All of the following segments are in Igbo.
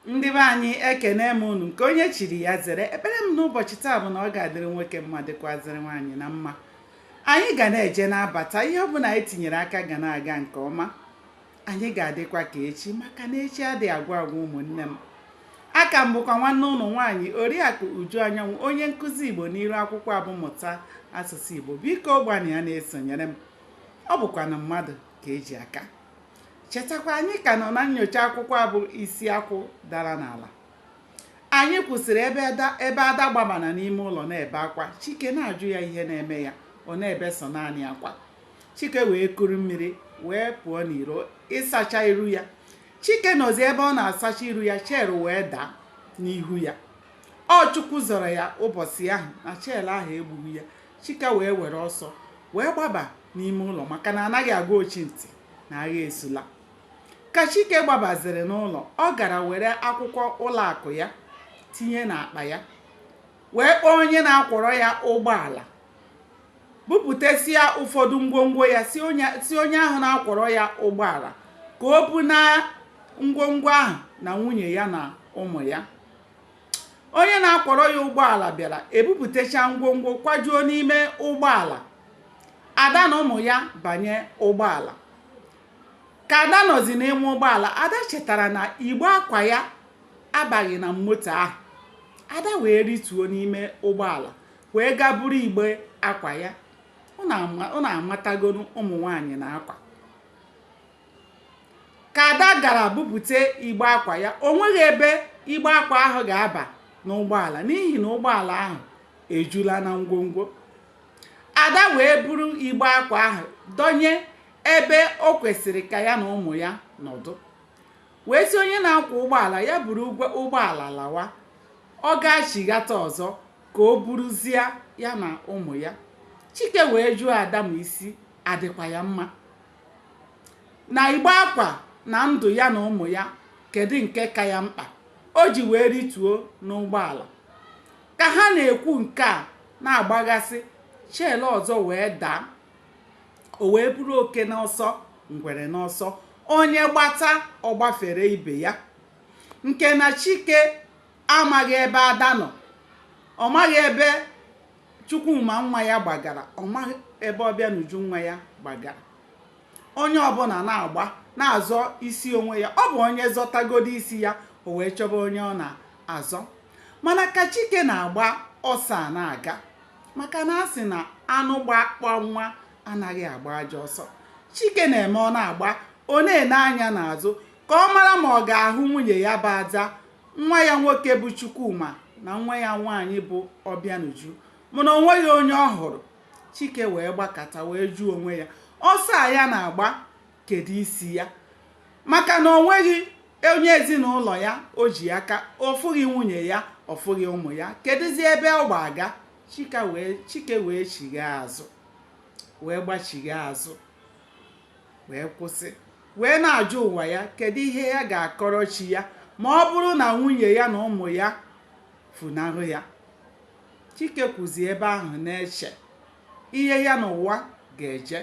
ndị be anyị ekene m unu nke onye chiri ya zere ekpere m n'ụbọchị taa bụ na ọ ga-adịrị nwoke mma dịkwazịrị nwaanyị na mma anyị ga na-eje na-abata ihe ọbụla anyị tinyere aka ga na-aga nke ọma anyị ga-adịkwa ka echi maka na echi adịghị agwụ agwụ ụmụnne m aka m bụkwa nwanne unu nwaanyị oriakụ uju anyanwụ onye nkụzi igbo n'iru akwụkwọ a bụ mụta asụsụ igbo biko gbanụ ya na-esonyere m ọ bụkwanụ mmadụ ka e ji aka chetakwa anyị ka nọ na nnyocha akwụkwọ a bụ isi akwụ dara n'ala anyị kwụsịrị ebe ada gbabara n'ime ụlọ na-ebe akwa chike na-ajụ ya ihe na-eme ya ọ na-ebe sọ naanị akwa chike wee kuru mmiri wee pụọ n'iro ịsacha iru ya chike nọzi ebe ọ na-asacha iru ya shell wee daa n'ihu ya ọ chukwu zọrọ ya ụbọchị ahụ na shell ahụ egbughị ya Chike wee were ọsọ wee gbaba n'ime ụlọ maka na anaghị agwa ochi ntị na agha esula. Ka Chike gbabaziri n'ụlọ, ọ gara were akwụkwọ ụlọ akụ ya tinye n'akpa ya wee kpọọ onye na-akwọrọ ya ụgbọala bupụtasịa ụfọdụ ngwongwo ya si onye ahụ na-akwọrọ ya ụgbọala ka o buna ngwongwo ahụ na nwunye ya na ụmụ ya. onye na-akwọrọ ya ụgbọala bịara ebupụtacha ngwongwo kwajuo n'ime ụgbọala ada na ụmụ ya banye ụgbọala ka ada nọzi n'ime ụgbọala ada chetara na igbe akwa ya abaghị na moto ahụ ada wee rituo n'ime ụgbọala wee gaa buru igbe akwa ya unu amatagonu ụmụ nwaanyị na akwa ka ada gara bupute igbe akwa ya o nweghị ebe igbe akwa ahụ ga-aba n'ụgbọala n'ihi na ụgbọala ahụ ejula na ngwongwo ada wee buru igbe akwa ahụ dọnye ebe o kwesịrị ka ya na ụmụ ya nọdụ wee sị onye na-akwọ ụgbọala ya buru ụgbọala lawa ọ ga-achighata ọzọ ka o buruzie ya na ụmụ ya chike wee jụọ ada ma isi adịkwa ya mma na igbe akwa na ndụ ya na ụmụ ya kedu nke ka ya mkpa o ji wee rituo n'ụgbọala ka ha na-ekwu nke a na-agbaghasị shell ọzọ wee daa o wee bụrụ oke n'ọsọ ngwere n'ọsọ onye gbata ọ gbafere ibe ya nke na chike amaghị ebe ada nọ ọ maghị ebe Chukwuma nwa ya gbagara ọ maghị ebe Ọbịanuju nwa ya gbagara onye ọbụla na-agba na-azọ isi onwe ya ọ bụ onye zọtagodo isi ya o wee chọba onye ọ na-azọ mana ka Chike na-agba ọsọ a na-aga maka na a sị na anụ gba akpa nwa anaghị agba ajọ ọsọ Chike na-eme ọ na-agba ọ na-ene anya n'azụ ka ọ mara ma ọ ga-ahụ nwunye ya bụ Ada nwa ya nwoke bụ Chukwuma na nwa ya nwaanyị bụ Ọbịanuju mana o nweghị onye ọ hụrụ Chike wee gbakata wee jụọ onwe ya ọsọ a ya na-agba kedu isi ya maka na o nweghị onye ezinụlọ ya o ji aka ọ fụghị nwunye ya ọ fụghị ụmụ ya kedụzi ebe ọ gbaga Chike wee chigha azụ wee gbachigha azụ wee kwụsị wee na-ajụ ụwa ya kedu ihe ya ga-akọrọ chi ya ma ọ bụrụ na nwunye ya na ụmụ ya funahụ ya Chike kwụzi ebe ahụ na-eche ihe ya na ụwa ga-eje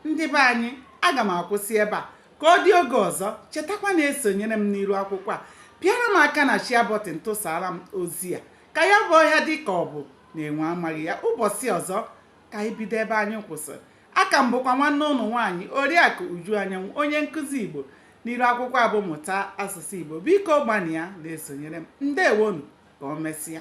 ndị be anyị aga m akwụsị ebe a ka ọ dị oge ọzọ chetakwa na-esonyere m n'iru akwụkwọ a pịara m aka na share button tụsara m ozi a ka ya bụ ọhịa dị ka ọ bụ na enwe amaghị ya ụbọchị ọzọ ka anyị bido ebe anyị kwụsịrị Aka m bụkwa nwanne unu nwaanyị Oriakụ Uju Anyanwụ onye nkụzi Igbo n'iru akwụkwọ a bụ Mụta Asụsụ Igbo biko gbanịa na-esonyere m ndewonu ka o mesịa